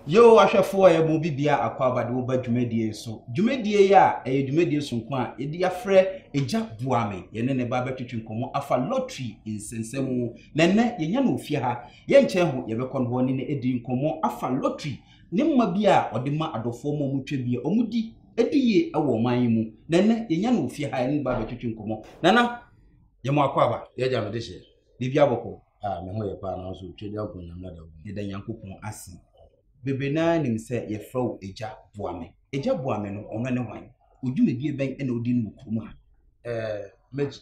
Yehowa ahwɛfo a wɔabɔ obi biara akwaaba de wo ba dwumadie yi so. Dwumadie yi a ɛyɛ dwumadie soronko a yɛde afrɛ Agya Boa Me. Yɛne ne ba bɛtwetwe nkɔmmɔ afa lottery nsɛnsɛm ho. Na ɛnnɛ, yɛnya no wɔ fie ha. Yɛnkyɛn ho, yɛbɛkɔ hɔ ne no adi nkɔmmɔ afa lottery ne mma bi a ɔde ma adɔfoɔ ma wɔtwa bi a wɔdi di yie wɔ ɔman yi mu. Na ɛnnɛ, yɛnya no wɔ fie ha, yɛne ne ba bɛtwetwe nkɔmmɔ. Nana, yɛ mo akwaaba, yɛagya no de hyɛ. Da bia bɔkɔ a me ho yɛ paa nanso Twɛdua Nko Nyame ada wo mu. Yɛda Nyankopɔn ase. Bebree no ara nim sɛ yɛfrɛ wo Agya Boa Me. Agya Boa Me no, ɔno ne hwan? Odwumadie bɛn na odi no wɔ kurom ha? Ɛɛ,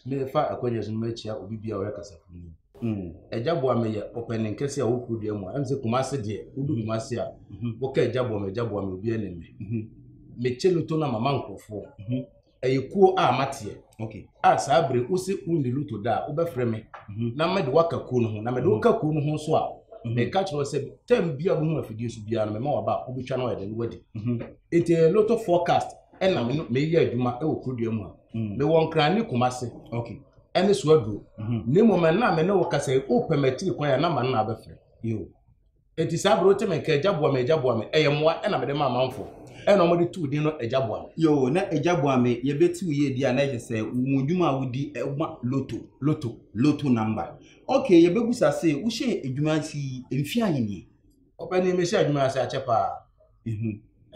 mefa akwannya yi so na makyia obi biara a ɔyɛ kasafoni yi. Mm, Agya Boa Me yɛ ɔpanin kɛseɛ a ɔwɔ kuro dua mu a, ɛm sɛ Kumase deɛ, wodu Kumase a, woka Agya Boa Me, Agya Boa Me, obiara nim me. Mekyɛ loto na mama nkurɔfoɔ. ɛyɛ kuo a mateɛ okay. a saa bere wo se wonni loto da a wobɛfrɛ me mhm. na mede woaka kuo no ho na mede woka kuo no ho nso a mhm. meka kyerɛ sɛ tam bia bohu afidie so biara no mema waba a wobɛtwa no ayɛde no wadi mhm. nti ɛyɛ loto forecast ɛna meyɛ adwuma wɔ kurodua mu a mewɔ nkran ne kuma se ɛne so aduro na mmom ɛna me ne wo kasa wopɛ matiri kwan a na ma no na abɛfrɛ Enti saa bere wote me nka Agya boa me, Agya boa me, ɛyɛ mmoa na mede ma amanfo. Ɛna wɔde too din no Agya boa me. Yoo, na Agya boa me yɛ bɛ ti wo yie deɛ a na ɛkyɛ sɛ wo mu adwuma a wodi ɛma loto, loto, loto number. Ok, yɛ bɛ busa se, wo hyɛɛ adwuma ase yi mfe ahe nie? Ɔpanin, me hyɛɛ adwuma yi ase akyɛ paa.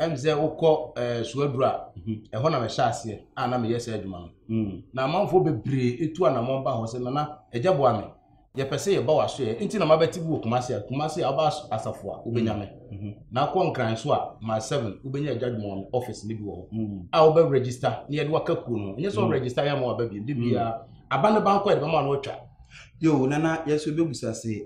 ɛm sɛ wokɔ ɛɛ suaduro a ɛhɔ na mɛhyɛ aseɛ a na meyɛ saa adwuma no na amanfoɔ bebree etu anamɔn ba hɔ sɛ nana ɛgya boa me yɛpɛ sɛ yɛba w'aso yɛ nti na mabɛte bi wɔ kumase a kumase a ɔba asafo a wobɛnya me na akɔ nkran so a ma seven wobɛnya ɛgya adwuma wɔn ɔfis ne bi wɔ hɔ a wobɛ register na yɛde waka kuo no ɛnyɛ sɛ ɔregister yɛ ama waba bi de biara aba ne bankɔ yɛde bɛma no atwa yo nana yɛso bɛbusa se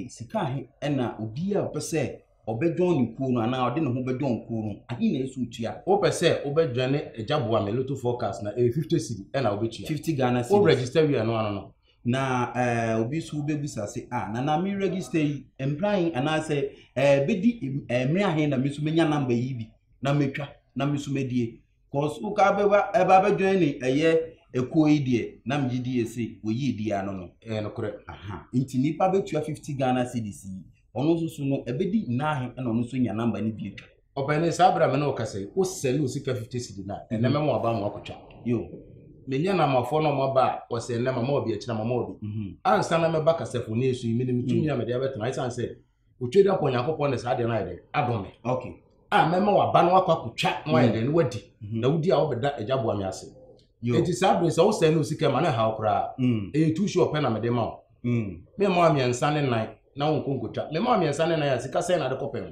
sika he ɛna obi a ɔpɛ sɛ Ɔbɛdɔn ne kuo no anaa ɔde ne ho bɛdɔn kuo no, ahe na ɛsɛ ɔtua? Wopɛ sɛ wobɛdwane Agya boa me Lotto forecast no a, ɛyɛ 50 cedi ɛna wobɛtua. 50 Ghana cedis. Wo register wie a, ɛno ano no. Na eh, obi nso bɛbisa se, ah, nana me register yi, mmerɛ ahe anaasɛ eh, bɛdi eh, mmerɛ ahe na me nso mɛnya number yi bi na matwa na me nso madie. Cause wo ka bɛba ɛba bɛ join ne ɛyɛ ekuo yi deɛ na megye di yɛ se wɔyi edi ano no. Ɛyɛ nokorɛ. Aha nti nipa bɛtua fifty Ghana cedis yi ɔno nso so no ɛbɛdi naahe ɛna ɔno nso nya number no bio. Ɔpɛni saa bere a me ne wo kasa yi wo sɛne wo sika fifty cedi no a ɛnɛ mɛma waba ama wakɔtwa. Yo. Menyɛ namafoɔ na ɔma ba a wɔsɛ ɛnɛ mama wabi akyina mama wabi. Ansa na mɛba kasafoni so yi menim tumi a mede abɛtena ɛsiane sɛ otwa dɛ akɔ nyankopɔn ne saa deɛ no ayɛ dɛ adom me okay a mɛma waba no akɔ akɔtwa na wayɛ dɛ no wadi mhm. na wodi a wobɛda agya boa me ase enti saa bere sɛ wo sɛe ne osika ma ne haw koraa mm. ɛyɛ tu so ɔpɛ na mede ma wo mm. mema wa mmiɛnsa ne nan na wonkɔ nkɔtwa mema wa mmiɛnsa ne nan a sika sɛn na de kɔpɛ ho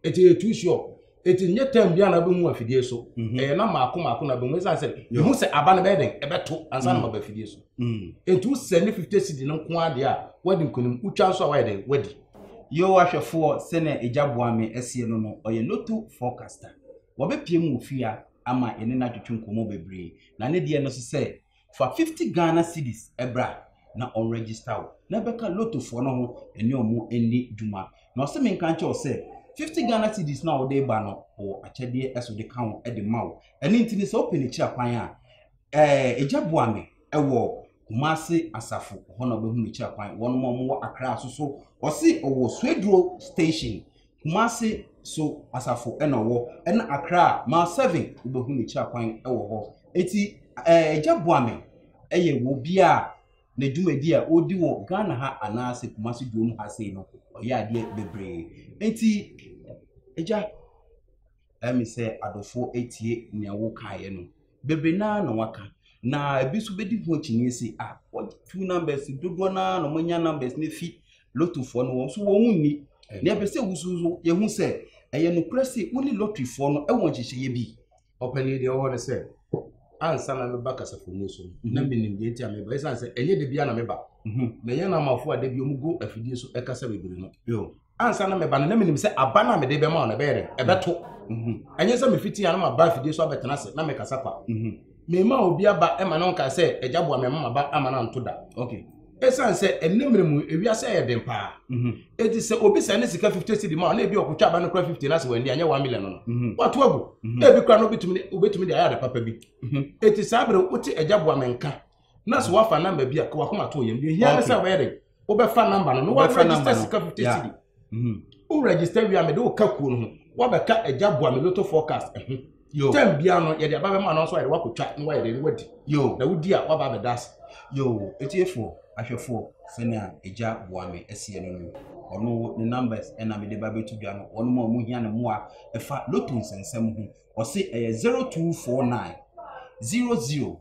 enti ɛyɛ tu so Eti nyɛ tɛm biara na wobɛhu afidie so. Mhm. Ɛyɛ na maako maako na bɛhu ɛsiane sɛ mehu sɛ aba no bɛyɛ dɛn ɛbɛto ansa na mm. maba afidie so. Mm. Enti wosɛ ne 50 cedi no nko adeɛ a woadi nkonim wotwa nso a woayɛ dɛn woadi. Yehowa hwɛfoɔ sɛnea agya boa me asie no no, ɔyɛ loto forecaster. Wɔbɛpie mu ofia ama yɛne no atwetwe nkɔmmɔ bebree. Na ne deɛ no so sɛ Fa fifty Ghana cedis bra na ɔn register wo na bɛka lotto foɔ no ho ɛne ɔmo ɛndi dwuma. Na ɔse me nka nkyɛ wo sɛ fifty Ghana cedis no a wode ba no ɔwɔ akyɛdeɛ ɛso de ka ho ɛde ma wo. Ɛno nti no sɛ wopɛ ne kyira kwan a ɛɛ egya boa me ɛwɔ Kumasi asafo hɔ na wobɛhu ne kyira kwan. Wɔnom a ɔmo wɔ Accra soso ɔse ɔwɔ Swedru station. Kumasi so asafo na ɔwɔ ɛna Accra a mile seven wobɛhu ne kyira kwan wɔ hɔ eti ɛɛ agya Boame ɛyɛ wɔ obi a ne dwumadi a ɔdi wɔ Ghana ha anaasɛ Kumasi duom ha sei no ɔyɛ adeɛ bebree eti agya Ɛyɛ me sɛ adɔfoɔ atie nea wokaeɛ no. Bebree no ara na wɔaka. Na ebi nso bɛdi ho akyinnye sɛ, ah, wɔatu numbers dodoɔ no ara na wɔanya numbers no afi lotofoɔ no wɔn nso wɔn nni. Na ɛpɛ sɛ wusu nso yɛhu sɛ ɛyɛ nokorɛ sɛ wo ne lotteryfoɔ no wɔ nhyehyɛeɛ bi. Ɔpanin deɛ ɔwɔ no sɛ ansa na meba kasafomu so na mhm. menim deɛ nti a meba ɛsiane sɛ ɛnyɛ da bia na meba mhm. mɛyɛ no amafoɔ a da bi ɔmugu afidie so ɛkasa bebree no ansa na meba no na menim sɛ aba no a mede bɛma wo no ɛbɛyɛ dɛn ɛbɛto ɛnyɛ sɛ mefiti a na maba afidie so abɛtena ase na mekasa kwa mema obi aba ɛma no nkae sɛ agya boa mɛma maba ama no anto da ɛsiane sɛ ɛnɛ mmerɛ mu ewiase ɛyɛ den paa ɛti sɛ obi sɛ ne sika 50 cedi ma na ebi ɔkotwa aba no kora 50 no ase wɔ ani anyɛ 1 million no wato agu na ebi kora no wobɛtumi de ayɛ ade papa bi ɛti saa berɛ wote agya boa me nka na so wafa namba bi a ka wakoma to yɛm deɛ hia ne sɛ wobɛyɛ dɛ wobɛfa namba no na waregister sika fifty cedi mhm. wo register wia mede wo ka kuo no ho wabɛka agya boa me loto forecast ɛho eh, tɛm bia no yɛde aba bɛma no nso ayɛde wakɔtwa na wayɛ dɛ ne wadi na wodi a waba abɛda ase yo ɛtiefoɔ ahwɛfoɔ sɛnea agya boa me ɛseɛ no no ɔno ne numbers ɛna mede ba bɛto dwa no wɔnom a ɔmo hia ne mmoa ɛfa loto nsɛnsɛm ho ɔse ɛyɛ 0249 00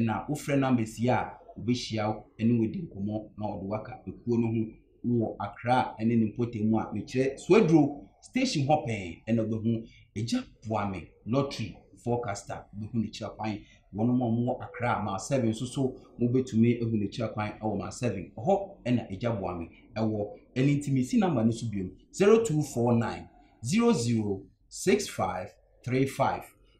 na wofrɛ no amasia a, obehyia wo ne wo adi nkɔmmɔ na ɔde wo aka ekuo no ho wɔ Accra ne ne mpɔtam mu a mekyerɛ Suaduro station hɔ pɛn na wobɛhu Agya Boame lottery forecaster wobɛhu ne kyerɛ kwan wɔn a wɔwɔ Accra ma seven nso so mobɛtumi ahu ne kyerɛ kwan wɔ ma seven hɔ na Agya Boame ɛwɔ ɛno nti mesi namba no so biom 0249 006535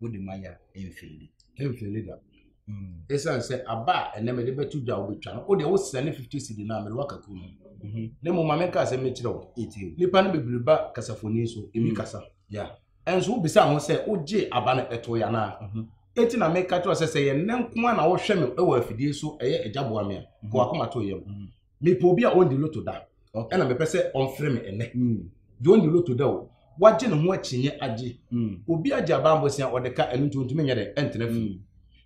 wode ma yɛ a mfeeli bi. Mfeeli da. Mm. Esiane sɛ aba a ɛnɛ mede bɛto dwa wobɛtwa no wode wosrɛ ne 50 cedi no a mede waka kuo no mhm. na mmom ma menka sɛ mekyerɛ wo nnipa no bebree ba kasafoni so ɛmi mm. kasa ɛnso wobisa ho sɛ wogye aba no ɛto yɛ anaa mhm. eti na meka kyerɛ sɛ sɛ yɛn nko a na wohwɛ me wɔ afidie so ɛyɛ agya boa me a mhm. kɔ akoma to yam mepɛ obi a ɔndi loto da ɛna mepɛ sɛ ɔmfrɛ me ɛnɛ hmm. deɛ ɔndi loto da o wagye ne ho akyinnye agye hmm. obi agye abambosia ɔde ka ɛno nti ɔntumi nyɛ dɛ ɛntena fie hmm.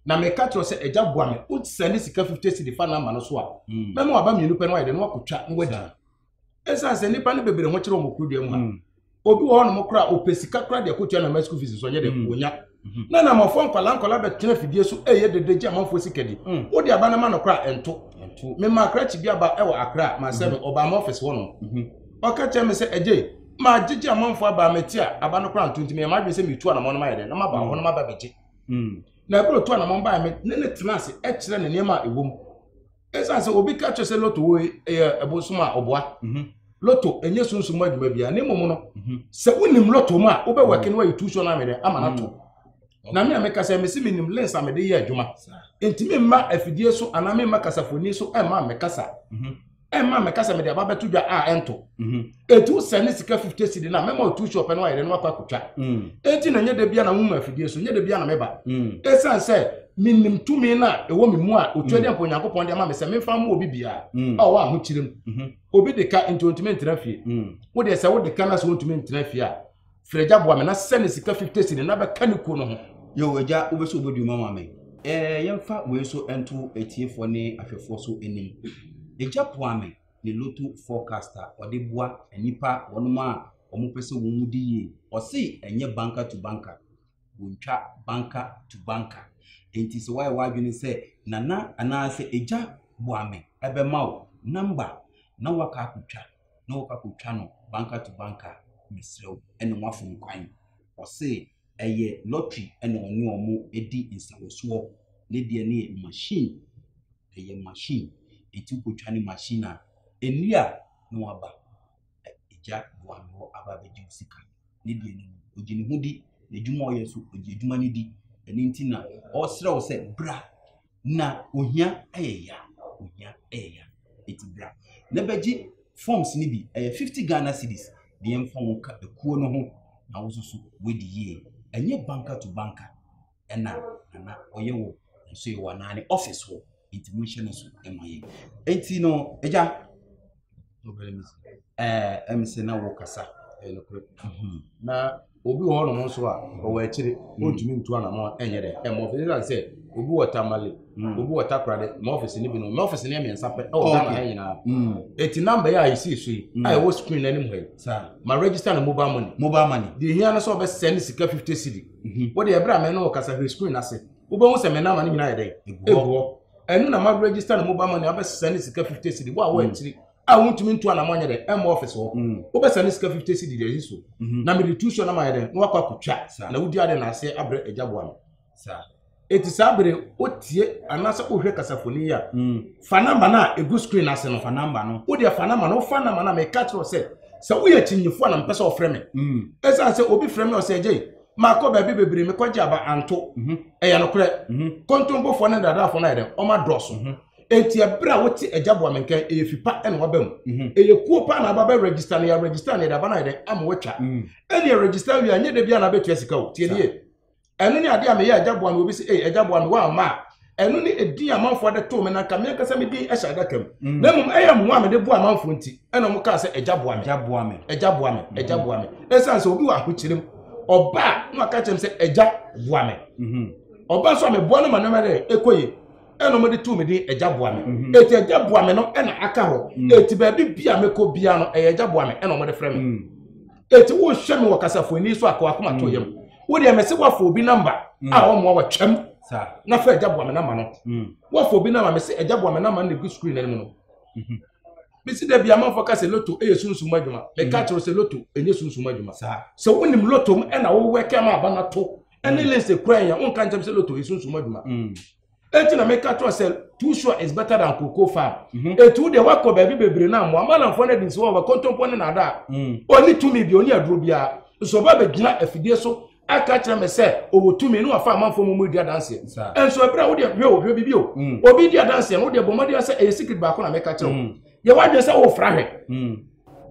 na meka kyerɛ sɛ agya boa me wosɛ ne sika 50 cedi fa no ama no so a mɛma waba mmienu pɛ no wayɛ dɛ no wakɔtwa no wadi ɛsiane sɛ nnipa no bebree ho kyerɛ wɔn kuro dua mu ha obi wɔ hɔ nom koraa ɔpɛ sika koraa deɛ kɔtua na ma school fees nso ɔnyɛ dɛ mm. ɔnya mm-hmm. na na amanfoɔ nkwadaa nkwadaa bɛtena fidie so ɛyɛ dede gye amanfoɔ sika di mm. wode aba no ma no koraa ɛnto mema akrakye bi aba ɛwɔ akra mansɛ me mm-hmm. ɔbaa ma ɔfɛse hɔ nom mm-hmm. ɔka kyerɛ me sɛ ɛgye maa gyegye amanfoɔ abaa mɛti a aba no koraa nto nti meyɛ madwene sɛ metu anamɔ no mayɛ dɛ na maba hɔ no maba bɛgye na ɛberɛ tu anamɔ baa me ne ne tena ase ɛkyerɛ ne nneɛma a ɛwɔ mu ɛsiane sɛ obi ka kyerɛ sɛ loto wo ɛyɛ ɛbosom a ɔboa mhm. loto ɛnyɛ sunsum adwuma bia ne mmom no mhm. sɛ wonim loto mu a wobɛwɛke no wayɛ tuusuo no amene ama no ato mhm. na me a meka sɛ mese menim lens a mede yɛ adwuma enti memma afidie so anaa memma kasafoni so ɛmma mekasa ɛmma mekasa mede aba bɛto dwa a ɛnto etu sɛ ne sika fifty cedi na mɛma otu shop no ayɛ dɛ no akɔ akotwa mm. eti na nyɛ dɛ bia na nwoma afidie so nyɛ dɛ bia na mɛba mm. esan sɛ menim tumi no a ɛwɔ me mu a otua mm. deɛ mpo onyankopɔn de ama me sɛ memfa mma obi biara a ɔwɔ ahokyerɛ mu mm-hmm. obi de ka nti ontumi ntena fie wo deɛ sɛ wode ka no sɛ wontumi ntena fie a frɛgya boa me na sɛ ne sika fifty cedi na bɛka ne kuo no ho yɛ agya wobɛsɛ wobɛduru ma ma me yɛmfa wei so nto atiefoɔ ne ahwɛfoɔ so anim ɛgya poa me ne loto forecast a ɔde boa nnipa wɔnom a wɔn pɛ sɛ wɔn di yie. Ɔse ɛnyɛ banker to banker. Wɔntwa banker to banker. Nti sɛ wayɛ w'adwene sɛ nana anaasɛ agya boame ɛbɛma wo number na waka akotwa na wɔkɔ akotwa no banker to banker mesrɛ wo ɛne wafom kwan. Ɔse Ɛyɛ lottery na ɔne wɔn di nsawɔsoɔ. Ne deɛ no yɛ machine, ɛyɛ machine. Nti wokɔtwa no machine a, ɛnnie a na waba. Agya Boanerɔ no aba abɛgye wo sika. Ne deɛ no ɔgye ne ho di, n'adwuma a ɔyɛ nso ɔgye adwuma no di. Ɛno nti na ɔresrɛ wo sɛ bra. na ohia yɛ ya ohia yɛ ya eti bra na bɛgye forms no bi ɛyɛ fifty ghana cedis deɛ nfa wɔn ka ekuo no ho na wososo wadi yie ɛnyɛ banka to banka ɛna nana ɔyɛ wɔ nso yɛ wɔ anaa ne office hɔ eti mo nhyɛ no so ɛma yɛ eti no ɛgya. ɛm sɛ na wokasa ɛyɛ nokorɛ mhm. na obi wɔ hɔnom nso a ɔwɔ akyire ɔntumi mm. ntu anamɔ ɛnyɛ dɛ ɛmɔ ɔfɛ ɛsan sɛ obi wɔ tamale mm. obi wɔ takorade ma ɔfisi no bi no ma ɔfisi no yɛ mmiɛnsa pɛ ɛwɔ ghana ha nyinaa mm. eti namba yɛ a yɛsi so yi a ɛwɔ screen no anim ha yi ma register no mobile money mobile money deɛ ehia no sɛ ɔbɛsɛ ne sika fifty cedi mhm. wɔde ɛbrɛ amɛ no wɔ kasa hwɛ screen ase wobɛhu sɛ mɛ nama no nyinaa yɛ dɛ egu hɔ ɛno na ma register no mobile money abɛsesa ne sika fifty cedi wo a wɔ akyiri a wontumi ntu anamɔ nyɛ dɛ ɛmɔ ɔfis hɔ wobɛsa ne sika fifty cedi deɛ ɛsi so na mede tu so na mayɛ dɛ na wakɔ akɔtwa na wodi ade na ase abrɛ agya boa no ɛti saa bere wotie anaasɛ wohwɛ kasafoni yi a fa namba no a ɛgu screen ase no fa namba no wodeɛ fa namba no wofa namba no a meka kyerɛ sɛ sɛ woyɛ kyinyifoɔ a na mpɛ sɛ ɔfrɛ me ɛsiane sɛ obi frɛ me ɔsɛ agyei Makɔ baabi bebree, mekɔgye aba anto. Mhm. Ɛyɛ nokorɛ. Mhm. Kontompofoɔ ne nnadaafoɔ no ayɛ dɛn? Wɔn adɔɔso. Mhm. Enti ɛberɛ a wote Agya boa me nka yi, ɛyɛ fi pa na waba mu. Mhm. Ɛyɛ kuo paa na aba bɛ register no, yɛ register no, yɛde aba no ayɛ dɛn? Ama watwa. Mhm. Ɛnneɛ register wie a, nyɛ da biara na abɛtua sika o. Tie nie. Ɛno ne adeɛ a meyɛ Agya boa me, obi se, ei, Agya boa me, woamma a, ɛno ne ɛdin amanfoɔ de too me na nka me ankasa me din hyɛ adaka mu mm. na mmom ɛyɛ mmoa mede boa amanfoɔ nti ɛna ɔmo kaa sɛ agya boa me agya boa me agya boa me agya mm-hmm. boa me ɛsiane sɛ obi wɔ ahokyere mu ɔba a na ɔka kyerɛ me sɛ agya boa me mm-hmm. ɔba nso a meboa no ma nneɛma dɛ ɛkɔ yie ɛna ɔmo de too me din agya boa me mm-hmm. eti agya boa me no ɛna aka hɔ mm. eti baabi bia mekɔ bia no ɛyɛ agya boa me ɛna ɔmo de frɛ me. Mm. eti wohwɛ me wɔ kasafo ani so akɔ akoma to yam wodeɛ mɛse woafo obi namba a ɔmmoa wa twam na fɛ agya boa me namba no woafo obi namba mɛse agya boa me namba no gu screen no mu no mesi da bi amanfoɔ ka sɛ loto yɛ sunsum adwuma meka kyerɛ sɛ loto ɛnyɛ sunsum adwuma sɛ wonim loto m ɛna wowɛkɛ ma aba no to ɛne lense kura yɛ wonka nkyɛm sɛ loto yɛ sunsum adwuma eti na meka kyerɛ sɛ too sure is better than cocoa farm mhm. etu deɛ wakɔ baabi bebree na mmoa malamfoɔ no adi nsi wɔ wɔ kontompo ne nada a mm. ɔni tumi bi ɔni aduro biara nso ɔba bɛgyina afidie so aka kyerɛ me sɛ ɔwɔ tumi ne wafa amanfoɔ mu mu di adanseɛ nso ɛberɛ a wodeɛ hwɛ o hwɛ bibi o mm. obi di adanseɛ no wodeɛ bɔ mmɔden sɛ ɛyɛ secret baako na meka kyerɛ wo mm. yɛ wadwene sɛ wofra hwɛ mm.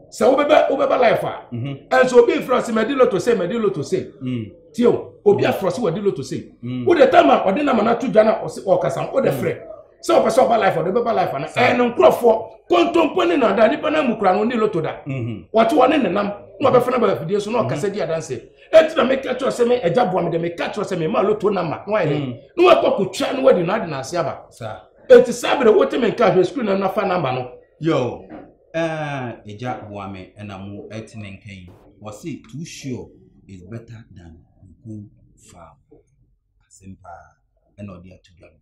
sɛ wobɛbɛ wobɛba life a mhm. ɛnso obi fira sɛ mɛdi loto sɛ mɛdi loto sɛ mm. tie o obi afra sɛ wɔdi loto sɛ mm. wode tam a ɔde nam anato dwa na ɔse ɔkasa wode frɛ sɛ ɔpɛ sɛ ɔba life ɔde bɛba life ana ɛno nkurɔfoɔ kontompo ne nada nipa no mu kura no ne loto da mhm. wɔte wɔne ne nam na ɔbɛfa no bafidie so na mhm. ɔkasa di adanse ɛti na meka kyerɛ sɛ me agya boa me dɛ meka kyerɛ sɛ mema loto nama na wayɛ na wakɔ kɔtwa na wadi no ade no ase aba Eti saa bere wote me nka hwɛ sukuu no na fa number no. Yoo eh agya boa me na mo ɛte me nka yi wɔse too sure is better than go far asɛm paa ɛna ɔde ato dwa no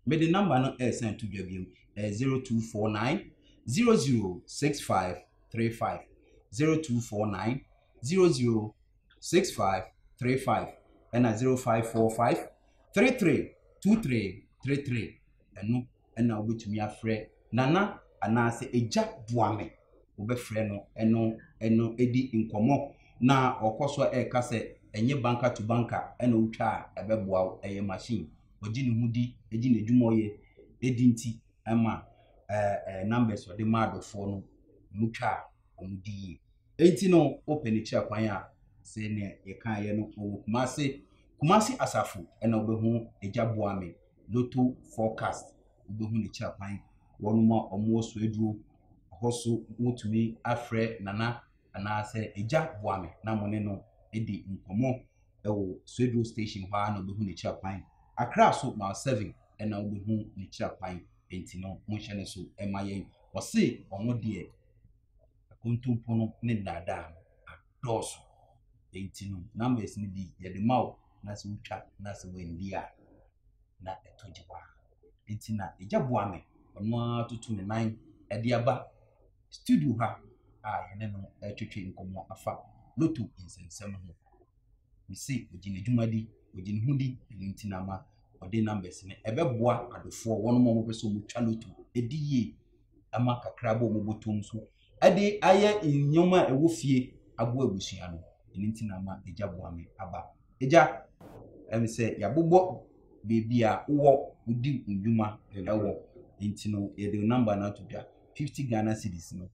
mede number no ɛresan to dwa biom ɛyɛ 0249 006535 0249 006535 ɛna 0545 three three two three three three ɛno ɛna wobɛtumi afrɛ nana anaasɛ agya boa me wobɛfrɛ no ɛno ɛno ɛdi nkɔmmɔ na ɔkɔ so ɛka sɛ ɛnyɛ banka to banka ɛna wotwa a ɛbɛboa wo ɛyɛ machine ɔgye ne ho di ɛgye n'adwuma ɔyɛ ɛdi nti ɛma ɛɛ numbers ɔde ma adɔfoɔ no mutwa a wɔn di yie. Enti no wopɛ ne kyerɛ kwan a sɛ nea yɛkaeɛ no ɔwɔ Kumase Kumasi asafo ɛna wobɛhu Agya Boame Lotto forecast wobɛhu ne kyerɛ kwan wɔnom a wɔn wɔ Soaduro hɔ so wotumi afrɛ Nana anaa sɛ Agya Boame na mo ne no adi nkɔmɔ ɛwɔ Soaduro station hɔ ara na wobɛhu ne kyerɛ kwan Accra so mile 7 ɛna wobɛhu ne kyerɛ kwan enti no monhyɛ ne so ɛma yɛn ɔse wɔn deɛ akontompo no ne nnaadaa no adɔɔso. Enti no, numbers no bi yɛde ma wo na sɛ wotwa na sɛ wandi a, na ɛtɔ gye paa. Enti na agya boa me, ɔno ara toto ne nan de aba studio ha a yɛne no retwetwe nkɔmmɔ afa loto nsɛnsɛm ho. Mese ɔgye n'adwuma di, ɔgye ne ho di, ɛno nti na ama ɔde numbers no ɛbɛboa adɔfoɔ wɔn a wɔpɛ sɛ wɔtwa loto ɛdi yie ma kakra bɔ wɔn bɔtɔm so de ayɛ nneɛma a ɛwɔ fie aboa abusua no. Ɛno nti na ama agya boa me aba. Agya, ɛne sɛ yɛabobɔ baabi a wowɔ wodi nnwuma ɛwɔ nti no yɛde wo namba no ato dwa. 50 Ghana cedis no,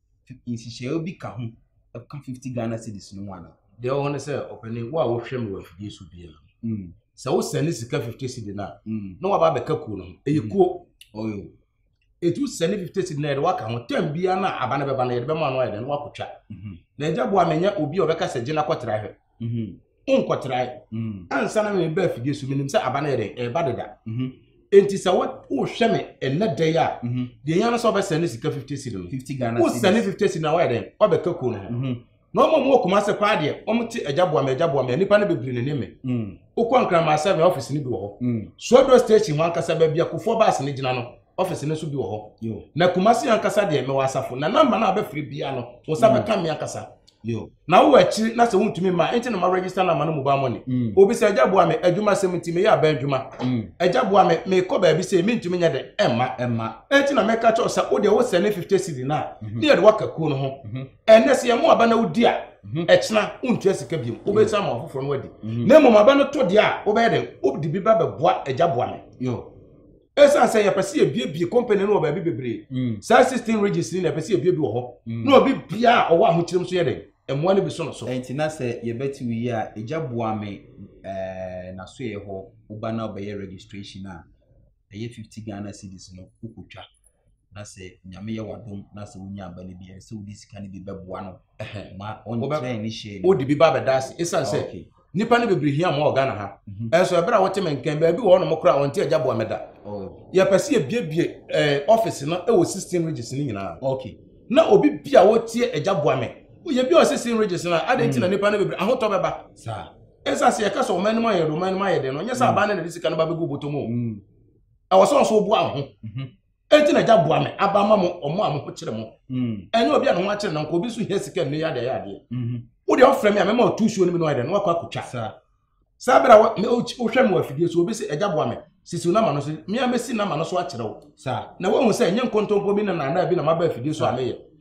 nhyehyɛeɛ bi ka ho ɛka 50 Ghana cedis no ho anaa? Deɛ ɛwɔ hɔ ne sɛ ɔpanin, wo a wohwɛ me wɔ afidie so biara no, Mm, sɛ wosɛne sika 50 cedi no a, mm, na waba abɛka kuo no ho. Ɛyɛ kuo. ɔyɛ o. ɛtu sɛ ne fifty cedi na yɛde waka ho tam biara no a aba no bɛba no yɛde bɛma no ayɛ dɛ no wakɔtwa mhm. na agya boa menyɛ obi a ɔbɛka sɛ gyina kɔtra hwɛ mhm. wonkɔtrae mhm. ansa na meba afidie so menim sɛ aba no yɛ dɛn ɛba deda enti sɛ wohwɛ me ɛnɛ dɛn a deɛ yɛa no sɛ wobɛsɛne sika fifty cedi no wosɛne fifty cedi no a woayɛ dɛn wabɛka kuo no ho na wɔn a wɔwɔ kumase paa deɛ wɔn te agya boa me agya boa me a nipa no bebree ne ne me mm. wokɔ nkraman seven office no bi wɔ hɔ mm. suaduro station wɔn ankasa baabi akofoɔ baase no gyina no office no nso bi wɔ hɔ na kumase ankasa deɛ mewɔ asafo na namba no a bɛfiri bia no wɔn nsa mm. bɛka me ankasa na wowɔ akyiri na sɛ wontumi ma ɛnti na ma register nama no mobile money mm. obi sɛ agya boa me adwuma sɛm nti meyɛ abɛn adwuma mm. agya boa me mekɔ baabi sɛ mentumi nyɛ dɛ ɛmma ɛnti na mɛka kyɛw sɛ wodeɛ wosɛ ne 50 cd no a mhm. ne yɛde woaka kuo no ho mhm. ɛnɛ sɛ yɛn mu aba na wodi a mhm. ɛkyena wontua sika biom wobɛsan ma ɔfoforɔ no adi mhm. na mmom aba no to deɛ a wobɛyɛ dɛn wode bi ba bɛboa agya boa me ɛsiane sɛ yɛpɛ sɛ yɛbiebie company no wɔ baabi bebree mm. saa system regis ni na yɛpɛ sɛ yɛbiebie wɔ hɔ mm. na obi bia a ɔwɔ ahokyerɛm so yɛ dɛn mmoa no bi so no so ɛnti na sɛ yɛbɛte wo yi a ɛgya boa me nasoɛ hɔ woba na wobɛyɛ registration a ɛyɛ 50 ghana cities no wokɔtwa na sɛ nyame yɛ wadom na sɛ wonya aba no bi ɛsɛ sɛ wode sika no bi bɛboa no ma ɔnkyerɛ ne hyɛ wode bi ba bɛda ase ɛsiane sɛ nnipa no bebree hia ma wɔ ghana ha mhm. ɛnso ɛberɛ a wote me nkɛn baabi wɔ ɔnom koraa ɔnte agya boa mɛda oh. yɛpɛ sɛ yɛbiebie eh, office no ɛwɔ 16 regis no nyinaa na obi bi a wɔtie agya boa me yɛbi ɔ 16 regis no a adɛn nti na mm. nnipa no bebree ahotɔ bɛba ɛsiane sɛ yɛka sɛ ɔma anim ayɛ de ɔma anim ayɛ de no nyɛ sɛ mm. abaa no na de sika no ba bɛgu bɔtɔ mu mm. ɛwɔ sɛ ɔso boa ho mhm. ɛnti na agya boa me aba ma mo ɔmo a mo ho kyerɛ mo mm. ɛnyɛ obi a ne ho akyerɛ nanka obi nso hia sika nnɛ yɛ adeɛ yɛ adeɛ mhm. wo deɛ ɔfrɛ me a mɛma ɔtu suo no mi na ɔyɛ dɛ na wakɔ akotwa saa bere a wohwɛ me wɔ afidie so obi sɛ agya boa me sisi wo nama no so mmea mɛsi nama no so akyerɛ wo na woahu sɛ ɛnyɛ nkontompo bi na naadaa bi na maba afidie so a meyɛ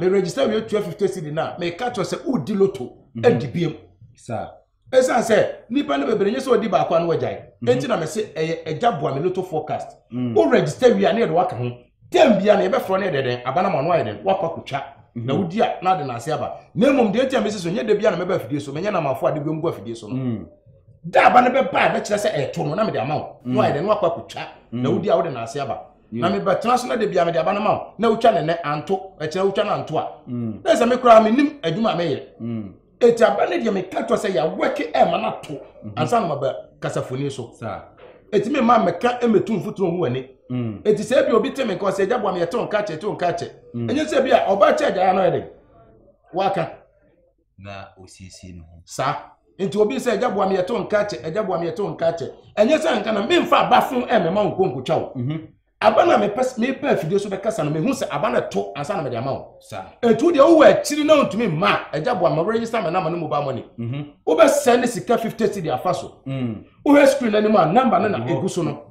me register wie tua fifty cedi na meka kyerɛ sɛ wodi loto mhm. adi biam ɛsiane sɛ nnipa no bebree nye sɛ ɔdi baako ano agyae mhm. enti na mese ɛyɛ agya boa me loto forecast mm. wo register wie a ne yɛde waka ho tɛm bia na yɛbɛfrɛ no yɛde dɛn aba no ma ɔno ayɛ dɛn woakɔ akɔtwa mhm. na wodi a na ade na ase aba na mmom deɛ nti a mese so nyɛ da bia na mɛba afidie so menyɛ namafo a de biom gu afidie so no mm. da aba no bɛba a bɛkyerɛ sɛ ɛto no na mede ama wo na mm. wayɛ dɛn na wakɔ akɔtwa na wodi a wode na ase aba na mebɛtena so na da bia mede aba no ma wo na wotwa ne nɛ anto ɛkyerɛ wotwa no anto a mm. na sɛ me koraa menim adwuma a meyɛ mm. ɛti aba no deɛ meka kyerɛ sɛ yɛawɛke ɛma no ato mhm. ansa no maba kasafoni so ɛti me ma mɛka mɛtu mfoturo ho ani ɛti mm. sɛ bi obi te me nka ɔsɛ agya boa me yɛte wo nka kyɛ te wo nka kyɛ ɛnyɛ sɛ bi a ɔba kyɛ agya yɛ no yɛ den waka na ɔsiesie ne ho saa nti obi sɛ agya boa me yɛto nka kyɛ agya boa me yɛto nka kyɛ ɛnyɛ sɛ nka na memfa aba fo ɛmɛma wo nkɔnkɔtwa wo mhm. aba no a mepɛ afidie so bɛkasa no mehu sɛ aba no to ansa na mede ama wo ɛtu deɛ wowɔ akyiri na wontumi mma agya boa ma werɛyisa me nama no mobile money mhm. wobɛsɛ ne sika 50 cedi afa so mm. wohwɛ screen no anim a namba no na ɛgu so no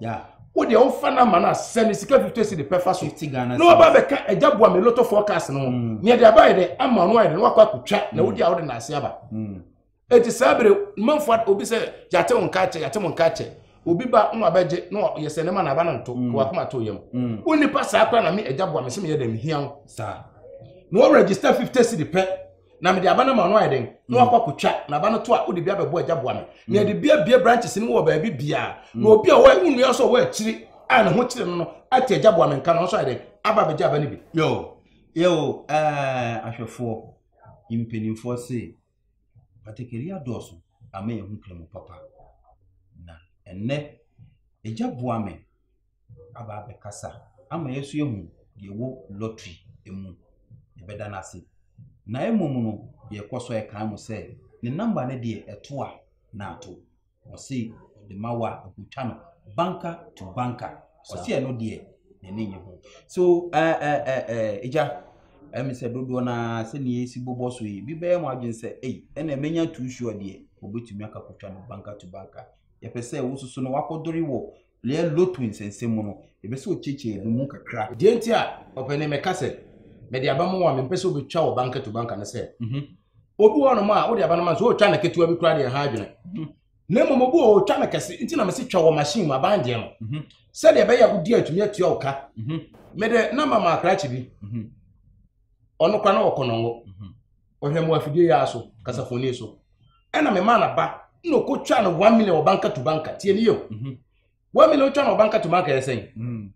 wodeɛ wofa namba no a sɛ ne sika 50 si de pɛfa so na waba bɛka agya boa me loto forecast no ho mm. neɛ de abayɛ dɛ ama no ayɛ dɛ na wakɔ akɔtwa na mm. wodi a wode naase aba mm. enti saa bere manfoɔ obi sɛ yɛate wo nka kyɛ yɛate mo nka kyɛ obi ba na wabɛgye na yɛsɛ ne ma na aba no nto na wakoma to yam wo nipa saa kora na me agya boa me sɛ meyɛ dɛ mehia wo na wɔregister 50 si de pɛ na mede aba no ma ɔno ayɛ den na wakɔ akɔtwa na aba no to a wode bi abɛbɔ agya boa me na yɛde bi abie branches no mu wɔ baabi biara na obi a ɔwɔ nnua nso ɔwɔ akyiri a ne ho kyerɛ no no ate agya boa me nka no nso ayɛ den aba abɛgya aba no bi yo yo ɛɛ ahwɛfoɔ mpanimfoɔ se patakari adɔɔso ama yɛn ho kura mu papa na ɛnɛ agya boa me aba abɛkasa ama yɛn nso yɛahu deɛ ɛwɔ lottery mu. Yɛbɛda no ase. Na mmom no, yɛkɔ so ɛkan mo sɛ ne namba no deɛ ɛto a na ato. Ɔse ɔde ma wo a ɛkɔtwa no banka to banka. Ɔse ɛno deɛ n'ani nye ho. So ɛɛ ɛɛ ɛɛ ɛgya ɛmi sɛ dodoɔ na sɛnea esi bobɔ so yi bi bɛyɛ mo adwene sɛ ei ɛna menya too sure deɛ wɔbɛtumi akakɔtwa no banka to banka. Yɛpɛ sɛ wososo no wakɔdore wɔ Lea lotu nsɛnsɛm mu no, yɛpɛ sɛ ɔkyekyɛ ebi mu kakra. Deɛ nti a ɔpɛ ne mɛka sɛ mede aba mu a mempɛ sɛ wobɛtwa wɔ banka to banka ne sɛ mhm. obi wɔ nom a wode aba no ma nso ɔtwa no ketewa bi koraa deɛ ha adwene mhm. na mmom obi wɔ ɔtwa no kɛse nti na mese twa wɔ machine mu aban deɛ no mhm. sɛdeɛ ɛbɛyɛ a wodi atumi atua wo ka mede na mama akrakye bi ɔno kora na ɔkɔnɔngo ɔhwɛ mu afidie yɛ aso kasafoni so ɛna mema na ba na ɔkɔtwa no one million ɔbanka tu banka tie ne yɛ o mhm. one million ɔtwa no ɔbanka tu banka yɛ sɛn mhm.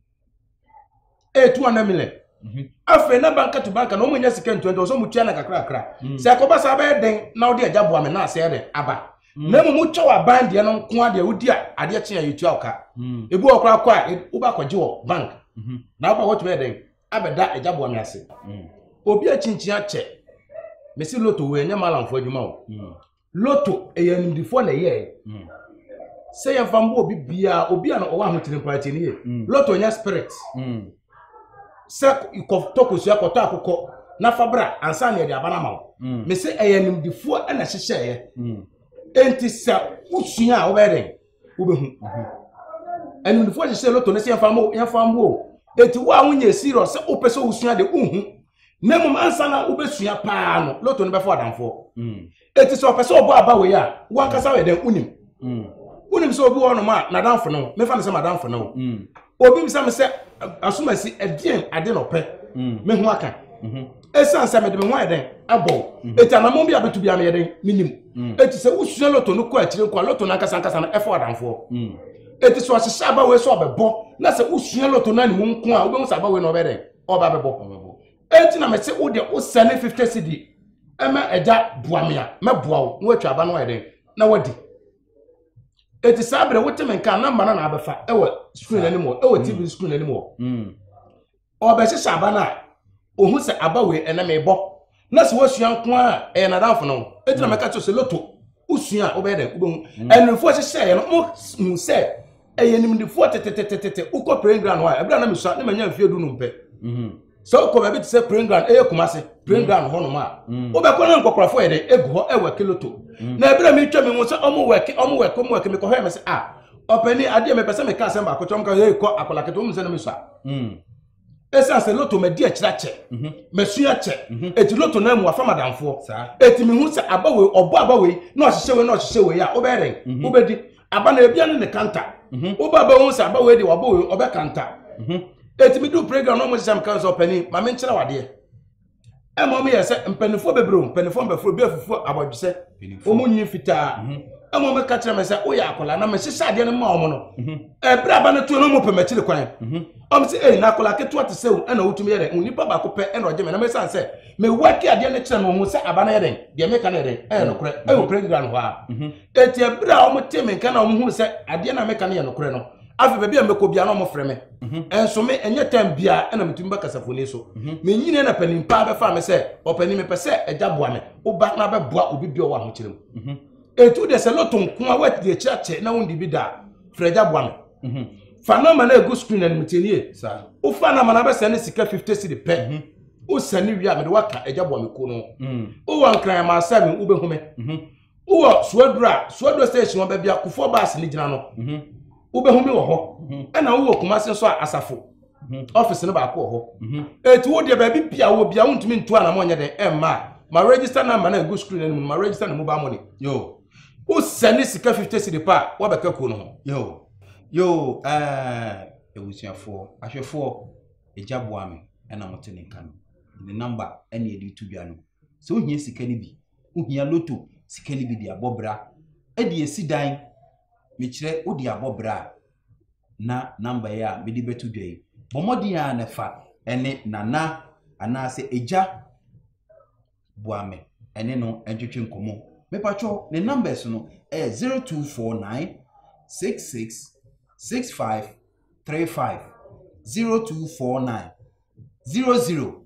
ɛyɛ two hundred million mhm. afei na banka tu banka na ɔmo nya sika ntua nti ɔsɛ ɔmo tua na kakrakra sɛ ɛkɔba saa bɛyɛ den na ɔde agya boa me na asɛɛ dɛ aba na mmom wotwa wɔ aban deɛ no nko adeɛ wodi a adeɛ kyen a yɛtua ɔka ebi wɔ koraa kɔ a wobɛkɔgye wɔ bank na wobɛ wɔtumi yɛ dɛn abɛda agya boa me ase obi akyinkyin akyɛ mesi loto wɔ ɛnyɛ malamfo adwuma o mm. loto ɛyɛ animdifoɔ na ɛyɛɛ mm. sɛ yɛmfa mbɔ obi biara obi a na ɔwɔ ahotiri mpo akyɛ ne yɛ mm. loto nyɛ spirit sɛ kɔtɔ kosua kɔtɔ akokɔ na fa bra ansa na yɛde aba no ama wo mesi ɛyɛ animdifoɔ na ɛhyehyɛeɛ enti sɛ wosua a wobɛyɛ dɛn wobɛhu animdefo hyehyɛ sɛ loto no sɛ yɛmfa mo yɛmfa mo o eti wo a wonyɛ serious sɛ wopɛ sɛ wosua de wohu na mmom ansa na wobɛsua paa no loto no bɛfo adamfoɔ mm. eti sɛ ɔpɛ sɛ ɔbɔ aba wei a wankasa yɛ dɛn wonim mm. wonim sɛ obi wɔ nom a n'adamfo no mefa no sɛ m'adamfo no mm. obi bisa me sɛ asomasi ɛdeɛn ade na ɔpɛ mm. me ho aka ɛsiane mm-hmm. sɛ mede me ho ayɛ dɛn abɔ ɛti mm-hmm. anamɔ bi a bɛtu bia meyɛ dɛn menim ɛti mm. sɛ wosua loto no kɔ akyire nkɔ a loto no ankasa ankasa no ɛfɔ adamfoɔ ɛti sɛ ɔhyehyɛ abawei sɛ ɔbɛbɔ na sɛ wosua loto no ane wo nko a wobɛhu sɛ abawei na ɔbɛ dɛn ɔba bɛbɔ ɛti na mese wode wosɛne 50 cedi ɛma agya boa me a mɛboa wo na woatwa aba no ayɛ dɛn na wadi eti saa bere wote me nka namba na na abɛfa ɛwɔ screen anim hɔ ɛwɔ tv mm. screen anim hɔ mm. ɔbɛhyehyɛ aba no a ohun sɛ aba wei ɛnɛ mɛ bɔ na sɛ wɔsua nko a ɛyɛ nadamfo no eti na mm. mɛka kyerɛ sɛ loto wosua a wobɛyɛ dɛ wobɛhu ɛnufo hyehyɛ yɛ no mo hu sɛ. ɛyɛ nimdefoɔ tetetetete wokɔ praying ground hɔ a ɛberɛ a na mesua ne manya mfeɛ du nom pɛ mhm. sɛ wokɔ baabi te sɛ praying ground ɛyɛ kuma se praying mhm. ground hɔ nom a mhm. wobɛkɔ na nkɔkorɔfoɔ yɛ dɛ ɛgu hɔ ɛwɔ kiloto na ɛberɛ a metwa me ho sɛ ɔmo wɛke ɔmo wɛke ɔmo wɛke mekɔhwɛ me sɛ a ah, ɔpɛni adeɛ mepɛ sɛ meka asɛm baako kyɛ ɔmo ka yɛ kɔ akɔla kete wɔn sɛ na mesua ɛsiane sɛ loto madi akyirɛ kyɛ mhm. masua kyɛ ɛti mhm. loto no mu afa madamfoɔ ɛti mehu sɛ aba wei ɔbɔ aba wei na ɔhyehyɛ wei na ɔhyehyɛ wei a wobɛyɛ dɛn mhm. wobɛdi aba na ebia ne ne kanta woba bɛhu sɛ aba wei deɛ wabɔ wei ɔbɛkanta ɛti medu playground na ɔmo hyehyɛ me kan sɛ ɔpani ma menkyerɛ wadeɛ ɛma wɔn yɛ sɛ mpanimfoɔ bebree o mpanimfoɔ mbɛfo obi afufu abɔdwesɛ wɔn nwi fitaa mhm. ɛma wɔn ka kyerɛ mi sɛ oyɛ akɔla na mɛ hyehyɛ adeɛ no ma wɔn no mhm. ɛbere aba no tuo no wɔn pɛ mɛ akyiri kwan mhm. wɔn sɛ ɛyi na akɔla ketewa te sɛ o ɛna wotumi yɛ dɛ onipa baako pɛ ɛna ɔgye mɛ na mɛ san sɛ mɛ waki adeɛ no kyerɛ no wɔn sɛ aba no yɛ dɛ deɛ mɛ ka no yɛ dɛ ɛyɛ nokorɛ ɛwɔ pere ngira no hɔ a eti ɛbere a wɔn te mɛ nka na wɔn hu sɛ adeɛ na mɛ ka no yɛ nokorɛ no afei baabi a mɛkɔ bia na ɔmo frɛ me mhm. ɛnso me ɛnyɛ time bia ɛna metumi bɛ kasafoni so mhm. menyini na panin paa bɛfa me sɛ ɔpanin mepɛ sɛ ɛgya boa me woba na bɛboa obi bia ɔwɔ ahokyerɛ mu mhm. etu deɛ sɛ lɔto nko a wɔadi deɛ kyerɛ kyɛ na wondi bi da frɛ ɛgya boa me fa nɔma na egu screen anim tie nie wofa nɔma na bɛsɛ ne sika fifty cedi pɛ wosɛ ne wie a mede waka ɛgya boa me ko no wowɔ nkran ma asɛ me wobɛhu me wowɔ suaduro a suaduro station ɔbɛ bia kufoɔ baase ne gyina no mhm. wobɛhu mi wɔ hɔ mhm. ɛna wowɔ kumase nso a asafo mhm. ɔfisi no baako wɔ hɔ eti wo deɛ baabi bia wɔ bia wontumi ntu anamɔ nyɛ dɛn ɛmma a ma register number na egu screen anim ma register ne mobile money yoo wosɛ ne sika fifty cedi pa a wabɛka kuo no ho yoo yoo ɛɛ ebusuafoɔ ahwɛfoɔ egya boa mi ɛna mo te ne nka no ne number ɛna yɛde tu dwa no sɛ wohia sika no bi Wohia lotto sika no bi de abɔ bra. Ɛde asi dan. Mekyerɛ, wode abɔ bra a, na number yi a mede bɛto dwa yi, bɔ mmɔden ara na fa ne Nana anaasɛ Agya Boame ɛne no ntwetwe nkɔmmɔ. Mepakyɛw, ne numbers no ɛyɛ 0249 66 65 35 0249 00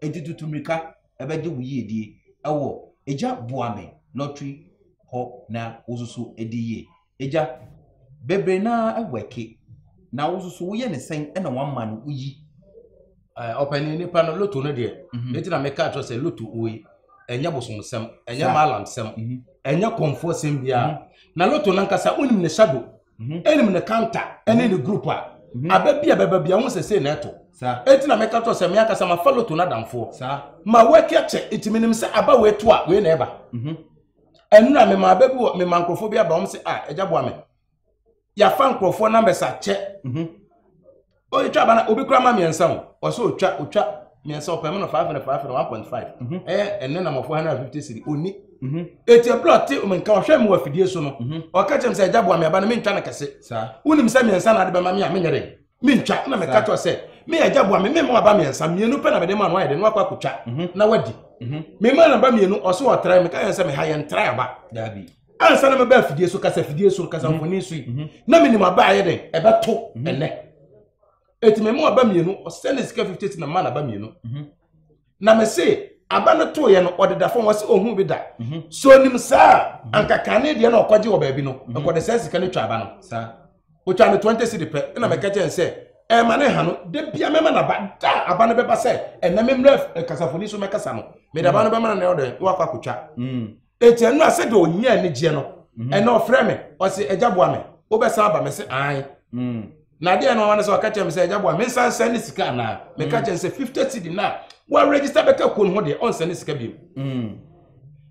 Enti tutu mmirika bɛgye wo yiedie wɔ Agya boa me lottery hɔ na wo nso so di yie. Agya, bebree no ara wɛke na wo nso so woyɛ ne sɛn na woama no woyi? Ɔpanin nipa no loto no deɛ, mhm. ne ti na meka kyerɛ sɛ loto wei ɛnyɛ bosomsɛm, ɛnyɛ malamsɛm, mhm. ɛnyɛ kɔnfoɔ sɛm biara. Mhm. Na loto no ankasa wonim ne hyado. mhm. ɛnim ne kanta ɛne ne group a mhm. aba bi a bɛba bi a wɔn sɛ sei na ɛto eti na mɛka tɔ sɛ mɛ akasa ma fa loto n'adamfoɔ ma wɔatwi akyɛ eti menim sɛ aba wɔ etu a wei na ɛba mhm. ɛnura mɛ ma aba bi wɔ mɛ ma nkorɔfoɔ bi aba wɔn sɛ a ah, ɛgya boa mɛ yafa nkorɔfoɔ numbers akyɛ ɔtwa aba na obi kura ma mmiɛnsa o ɔsɛ ɔtwa ɔtwa mmiɛnsa ɔpɛ mu no five hundred five hundred one point five mhm. ɛyɛ ɛne na mɔfo hundred fifty siri ɔni mhm. eti ɛbura ɔte ɔmo nka ɔhwɛ mu wɔ afidie so no mhm. ɔka kyerɛ mi sɛ ɛgya boa mi aba no mi ntwa no kɛse wonim sɛ mmiɛnsa na ade bɛma mi a mi nyɛ dɛ mi ntwa ɛna mi ka kyerɛ sɛ mi yɛ ɛgya boa mi mi mu aba mmiɛnsa mmienu pɛ na mi de ma no ayɛ dɛ no akɔ akotwa na wadi mi ma na ba mmienu ɔso ɔtra mi ka yɛn sɛ mi ha yɛn tra aba daabi. ansa na mɛba afidie so kasa fidie so kasa mhm. mfoni so yi mhm. na menim aba ayɛ dɛn ɛbɛto mhm. ɛnɛ ɛti mɛmu aba mmienu ɔsɛ ne sika 50 ti na ma na aba mmienu na mese aba no too yɛ no ɔdeda fam wɔsɛ ɔhu bi da so nim saa ankaka ne deɛ na ɔkɔgye wɔ baabi no ɛkɔde sɛ sika no twa aba no ɔtwa no 20 si de pɛ ɛna mɛka kyɛn sɛ ɛma ne ha no da bia mɛma no aba da aba no bɛba sɛ ɛnɛ memmerɛ kasafoni so mɛkasa no mede aba no bɛma no na ɔdɛ na wakɔ akɔtwa Enti ɛno a sɛdeɛ ɔnya anigyeɛ no, mhm. ɛnna ɔfrɛ me, ɔse, agya boa me, wobɛsan aba me se ae. Mm. Na adeɛ no ɔma no sɛ ɔka kyerɛ me sɛ agya boa me nsan sɛn ne sika anaa? Meka mm. kyerɛ sɛ 50 cedi no a wɔaregister bɛka kuo no ho deɛ ɔnsɛn ne sika bio. Mm.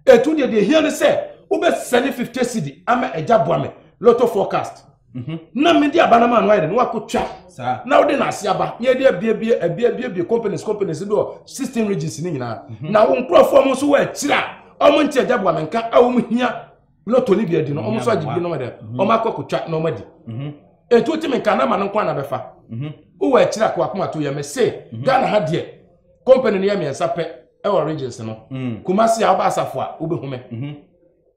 Ɛtu deɛ deɛ hia no sɛ wobɛsɛne 50 cedi ama agya boa me lotto forecast. Mhm. na mede aba no ma no ayɛ dɛ na wakɔtwa na wode no ase aba na yɛde abiabie abiabiabie companies companies bi wɔ sixteen regions no nyinaa mhm. na wo nkurɔfoɔ mo nso wɔ akyiri a ɔmo nte agya boa menka a ɔmo hia lotto no bi adi no ɔmo nso agye bi no dɛ mhm. ɔmo akɔkɔtwa na ɔmo adi mhm. ɛnti wotumi nka na ma no nkwa na bɛfa wowɔ akyiri a kowakoma to yɛ me se ghana ha deɛ company no yɛ mmiɛnsa pɛ ɛwɔ regions no mm. kumase a wobɛ asafo a wobɛhu me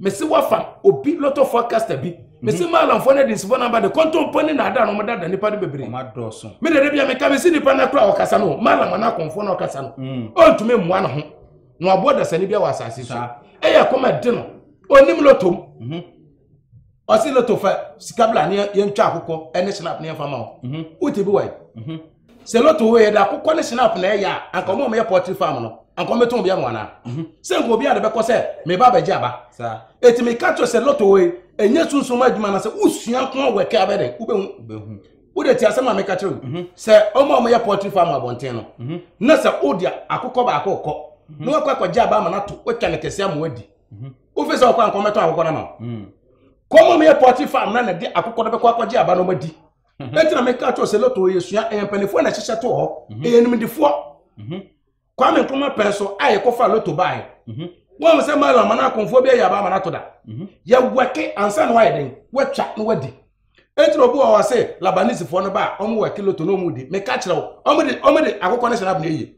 mese wafa obi lot of forecaster bi mese mhm. maalamfoɔ no adi nsefo no aba de kɔntɔmpɔ ne naada no ɔmodada nipa no bebree mede de bia meka mese nipa no kora ɔkasa no maalam ana akɔmfoɔ no ɔkasa no mm. ɔntumi mmoa no ho na waboa dasani bi wɔ asase so ɛyɛ kɔma de no ɔnim lotom mhm. ɔse loto fa sika bla ne yɛntwa akokɔ ne snap ne yɛmfa ma wo mhm. wote bi wae sɛ lotto wɔ yɛ de akokɔ ne snap na ɛyɛ a anka ɔmo a ɔmɛyɛ pɔtri farm no anka ɔmɛtɔn obi ama wɔn ana mhm. sɛ nka obi a de bɛkɔ sɛ meba abɛgye aba eti mi ka kyerɛ sɛ lotto wɔ yi enye sunsun adwuma na sɛ wusua nko awɔ ɛkɛ abɛ dɛ wobɛhu wode ti asɛm a meka kyerɛ wo mhm. sɛ ɔmo a ɔmɛyɛ pɔtri farm abɔnten no mhm. na sɛ wode akokɔ baako kɔ na wakɔ akɔgye aba ama no ato watwa ne kɛse ama wadi wofi sɛ ɔkɔ anka ɔmɛtɔn akokɔ no ama kɔmɔ meyɛ pɔtri farm na na de akokɔ no bɛkɔ akɔgye aba no ɔmadi mhm. ɛnti na meka kyerɛ sɛ lotto yɛ sua ɛyɛ mpanimfoɔ na ɛhyehyɛ to hɔ mhm. ɛyɛ nimdifoɔ mhm. kwame nkrumah pɛn so a yɛkɔfa lotto baeɛ wɔn mu sɛ mala ama no akɔnfoɔ bi ayɛ aba ama no ato da yɛwɛke ansa na wayɛ den watwa na wadi ɛnti na obi wɔ hɔ sɛ labanisifoɔ no ba a wɔn wɛke lotto na wɔn di meka kyerɛ wo wɔn de wɔn de akokɔ no hyɛ n'abena yie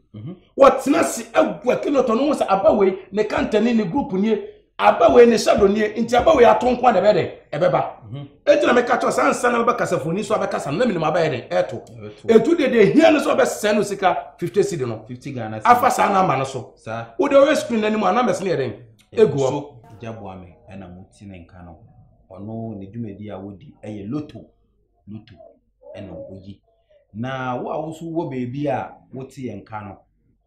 wɔtena se awɛke lotto no ho sɛ aba wei ne kantani ne group nie aba wei ne shadow nie nti aba wei ato nko a na ɛbɛyɛ dɛ ɛbɛba mhm. eti na meka kyerɛ sɛ ansa na bɛkasa foni so abɛkasa no na menim abɛyɛ dɛ ɛto etu de deɛ hia no sɛ ɔbɛsɛn no sika fifty cedi no afa saa namba no so wode ɔyɛ screen no anim a numbers no yɛ dɛn egu hɔ gyaboame ɛna mo ti ne nka no ɔno ne dwumadi a wodi ɛyɛ loto loto ɛna oyi na wo a woso wɔ baabi a wote yɛn nka no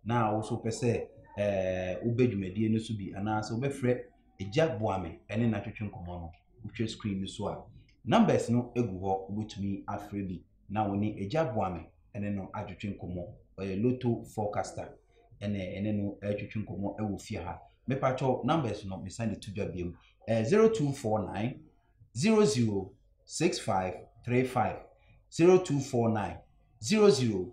na wo nso wopɛ sɛ ɛɛ wobɛ dwumadie no so bi anaasɛ wobɛfrɛ Agya Boame ne no atwetwe nkɔmmɔ no, wohwɛ screen no so a, numbers no gu hɔ, wobɛtumi afrɛ bi na wo ne Agya Boame ne no atwetwe nkɔmmɔ. Ɔyɛ Lotto forecaster ɛna ɛne no atwetwe nkɔmmɔ wɔ fie ha. Mepatwɔ numbers no mesan de to dwa biom, ɛyɛ 0249 006535 0249 00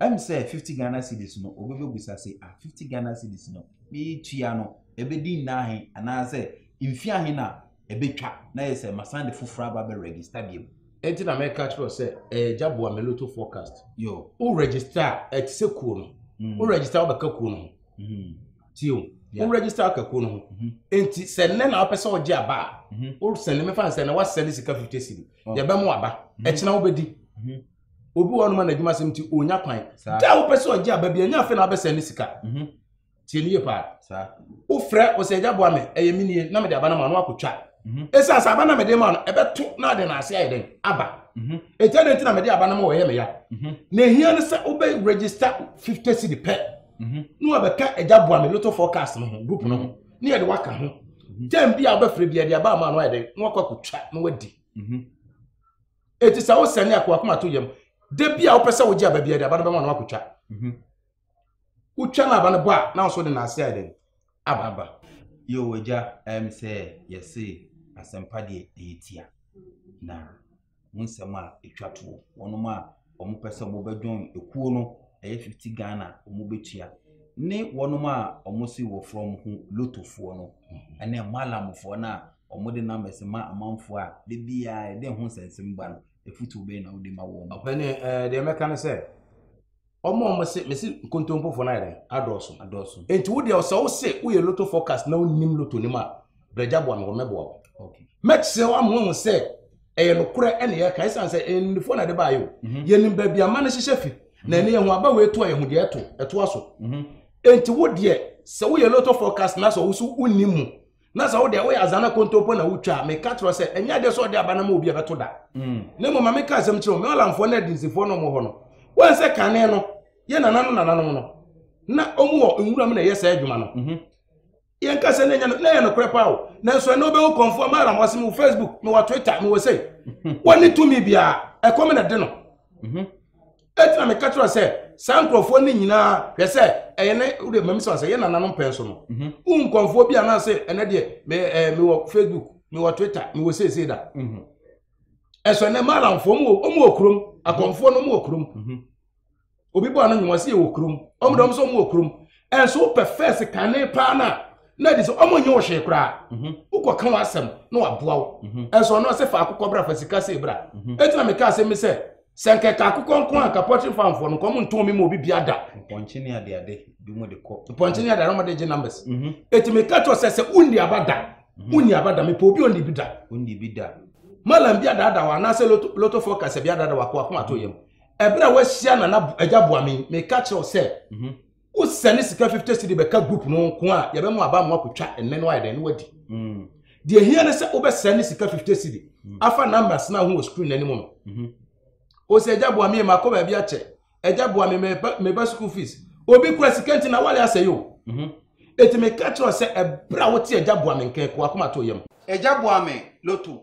Ɛm sɛ fifty Ghana cedis no obi bɛbusa se ah fifty Ghana cedis no meetua no ɛbɛdi nna ahe anaasɛ mfie ahe na ɛbɛtwa na yɛ sɛ masan de foforɔ aba bɛ register biom. Ɛnti na mɛka kyerɛ wo sɛ ɛyɛ gya boa me loto forecast. Yo. Wo register a ɛte sɛ kuo no. Mm. Wo register a wobɛka kuo no ho. Mm. Tio. Yeah. Wo register aka kuo no ho. Mm -hmm. Ɛnti sɛ nnɛ na wopɛ sɛ wogye aba a. Mm -hmm. Wo sɛne mefa sɛ na wasɛne sika 50 cedi. Oh. Yɛbɛmo aba. Mm -hmm. Ɛkyena wobɛdi. Mm -hmm. obi wɔ hɔnom a n'adwuma sɛm nti ɔnya kwan da wopɛ sɛ ɔgye aba bi ɛnyɛ afei na wabɛsɛn ne sika mhm. tie ne yie paa wofrɛ ɔsɛ agya boa me ɛyɛ me nie na mede aba no ma no akɔtwa mhm. ɛsiane sɛ aba na mede ma no ɛbɛto na ade no ase ayɛ dɛn aba mhm. ɛtia ne nti na mede aba no ma wɔyɛ me ya na ɛhia no sɛ wobɛ register 50 city pɛ na wabɛka agya boa me lotto forecast no ho group no ho ne yɛde waka ho tam bi a wobɛfrɛ bi ɛde aba ama no ayɛ dɛn na wakɔ akɔtwa na wadi eti sɛ wosɛne a kowakoma to yam da bi a wopɛ sɛ wogye aba biara de aba no bɛma no akotwa mhm. wotwa no aba no bɔ a na nso de naase ayɛ dɛn aba aba yo agya ɛm sɛ yɛse asɛmpa deɛ ɛyɛ tia na mu nsɛm a ɛtwa toɔ wɔnom a wɔn pɛ sɛ wɔn bɛ join ekuo no ɛyɛ fifty Ghana wɔn bɛ tua ne wɔn a wɔn si wɔ frɔ wɔn ho lotofoɔ no ɛne malamfoɔ no a wɔn de numbers ma amanfoɔ a de biara ɛde ho nsɛnsɛm ba no efutuo bɛyɛ na wɔde ma wɔn. ɔpɛni ɛɛ deɛ mɛka ne sɛ wɔn a wɔn se mesi nkontompofoɔ no ayɛ dɛ adɔɔso adɔɔso nti wo deɛ ɔsɛ wo se woyɛ loto forecast na wonim loto nim a. brɛgya boa me wɔ mɛboa wo mɛkyerɛ wo ama wahu sɛ ɛyɛ nokorɛ ɛne yɛka ɛsiane sɛ ɛnnifoɔ na ɛde baayɛ o mhm. yɛnim baabi ama no hyehyɛ fi na ɛne yɛho aba wei to a yɛho deɛ ɛto ɛtoa so mhm. enti wo deɛ sɛ woyɛ loto forecast na sɛ wo so wonni mu na sɛ wodeɛ woyɛ azana kontompo na wotwa a meka kyerɛ sɛ ɛnyɛ adeɛ sɛ ɔde aba no ma obi ɛbɛto da mm. na mmom ma meka asɛm kyerɛ wo mewalamfoɔ ne adinsifoɔ no ɔmɔ hɔ no wɔn sɛ kane no yɛ nananom nananom no na ɔmu wɔ nwura mu na ɛyɛ saa adwuma no mhm. yɛn kasa na nyɛ na yɛ nokorɛ paa o nanso ɛnna wobɛhu kɔnfoɔ ma ara mɔse mewɔ facebook mewɔ twitter mewɔ sei wɔne tumi biara ɛkɔm na de no mhm. ɛtina meka kyerɛ sɛ saa nkurɔfoɔ no nyinaa hwɛ sɛ ɛyɛ ne wode mami sɛ sɛ yɛ nananom pɛn so no mhm. wo nkɔnfoɔ bi anaasɛ ɛnɛ deɛ mewɔ facebook mewɔ twitter mewɔ seesei da mhm. ɛsɛ ɛnɛ maalamfoɔ mu wɔ kurom akɔnfoɔ no mu wɔ kurom obi bɔ ano nwuma si yɛ wɔ kurom ɔmo dɔm so ɔmo wɔ kurom ɛnso wopɛ fɛs kane paa na na ɛde sɛ ɔmo nye wo hwee koraa mhm. wokɔ ka w'asɛm na waboa wo mhm. ɛnso ɔno ɔsɛ fa akokɔ bra fa sika sɛ bra mhm. ɛti na meka asɛm mi sɛ sɛ nkɛka akokɔ nko a kapɔtiri fanfoɔ no nkɔm ntɔn mi ma obi bia da pɔnkye ne adeade bi mo de kɔ pɔnkye ne adeade ɔmo de gye numbers ɛti meka kyerɛ sɛ sɛ wonni aba da wonni aba da mepɛ obi onni bi da onni bi da malam bi adada wa anaasɛ loto loto forecast bi adada wa kɔ akoma to yam ɛberɛ a wahyia nana agya boame meka kyerɛ wo sɛ mhm. wosɛne sika 50 cedi bɛka group no nko a yɛbɛma aba mo akɔtwa ɛnɛ no ayɛ dɛn no wadi mm. deɛ hia ne sɛ wobɛsɛne sika 50 cedi mm. afa numbers no ho wɔ screen no anim no mhm. o sɛ agya boame makɔ baabi akyɛ agya boame meba school fees obi kura sika nti na wale asɛe o ɛti mhm. meka kyerɛ sɛ ɛberɛ a wote agya boame nkɛn kɔ akoma to yam agya boame loto